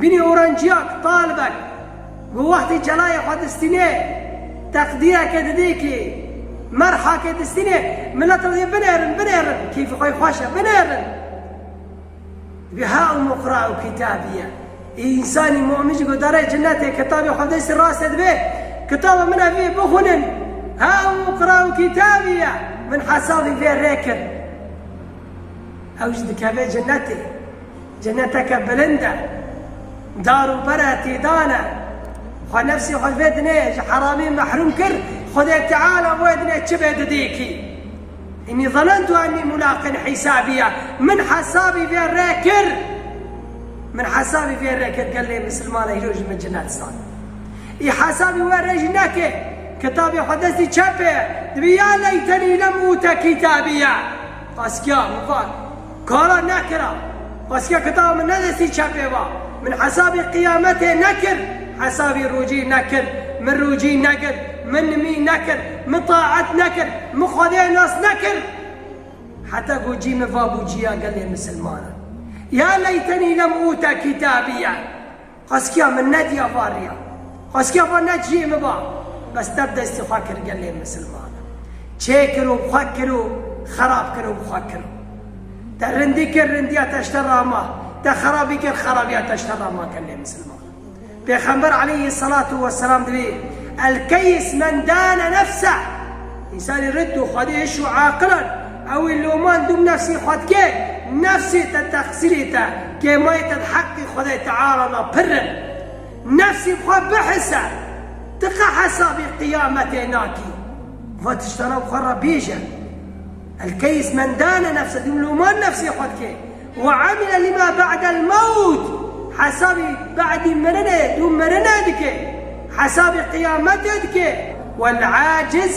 Binî oranciya ku Talibek bi wextê celayê xwe distînê teqdîreke didê kê, merhake distînê milet re yê binêrin, binêrin, keyfê xwe yê xweş e, binêrin. Dibê ha û muqra û kitabî ye. Ê însanî mumin jî guhdarê cinetê kitabê xwe bi destê rast de dibê, kitaba min ev ê, bixwînin, ha û muqra û kitabî ye, min hesabê vê rê kir. Ew jî dikeve cinetê. Ceneteke bilind e, dar û ber e, tê dan e. Xwe nefsê xwe ji vê dinê, ji heramê mehrûm kir, Xwedê Teala bi wê dinê çi bê didê kî. Înî zanentu enî mulaqin hîsabîya, min hesabî vê rê kir. Min hesabî vê rê kir, gel lê misilman e îro ji min cinet zan. Î hesabî wê rê jî neke, kitabê xwe destî çepê ye, dibê ya leytenî lem ûte kîtabîya. Qas kîya min vat. Kara nekira. Xwesike kitaba min ne destî çepê va. Min hesabî qiyametê nekir, hesabî rûcî nekir. Min rûcî negir, min nimî nekir, min taet nekir, min Xwedê nas nekir. Heta ku cî min va bû cîya gelê misilmanan. Ya leytenî lem ûte kitâbîye. Xweskiya min ne diya va riya. Xweskiya va ne ciyê min va. Bes tev destê xwe kir gelê misilman e. Çê kir û xwe kir û xerab kir û bi xwe kir. Te rindî kir rindiya te ji te ra ma. Te xerabî kir xerabiya te ji te ra ma gelê misilman e. Pêxember aleyhî selatû we selam divê El keyis men dane nefseh. Însanê rind û xwedihîş û aqil in. Ew ê loman dûm nefsê xwe dike, nefsê te teqsîrê te, kêmayê te di heqê Xwedayê Teala de pir in. Nefsê bi xwe bihise, ti qe hesabê qiyametê nakî. Bi van tiştanan bi xwe re bêje, Elkeys men dane nefse, dûm loman nefsê xwe dike, Wa amile lima ba'del mewt, hesabê ba'dî mirinê, dûm mirinê dike, hesabê qiyametê dike, Wal aciz,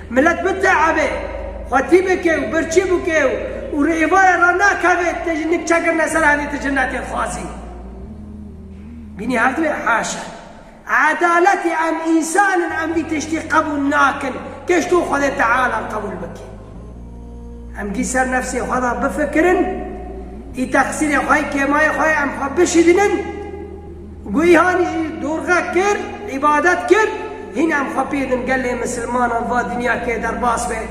Milet biteebe, xwetî bike û birçî bike û li êvarê re nekeve te jî nik çekirine ser hevê ti ji netê dixwazî. Bînî her du yê heş e. Edaletê em însan in em vî tiştî qebûl nakin kêş tu Xwedê Teala qebûl bike. Em gî ser nefsê xwe de bifikirin, î teqsîrê xwe yê kêmayê xwe ye em xwe bişîdinin, Guîhanî jî dorxe kir, îbadet kir, hîn em xwe pê din gelê misilmanan va dinya kê derbas be,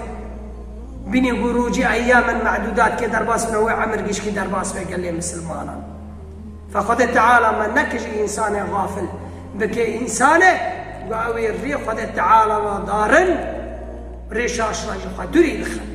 bînî ku rojî eyyamen medûdat kê derbas bine wê emir gişkî derbas be gelê misilmanan. Fe Xwedê Teala me nekijî însanê xafil, bikê însanê ku ew ê rê Xwedê Teala ve darin, rê şaşina jî xwe dûrî dixin.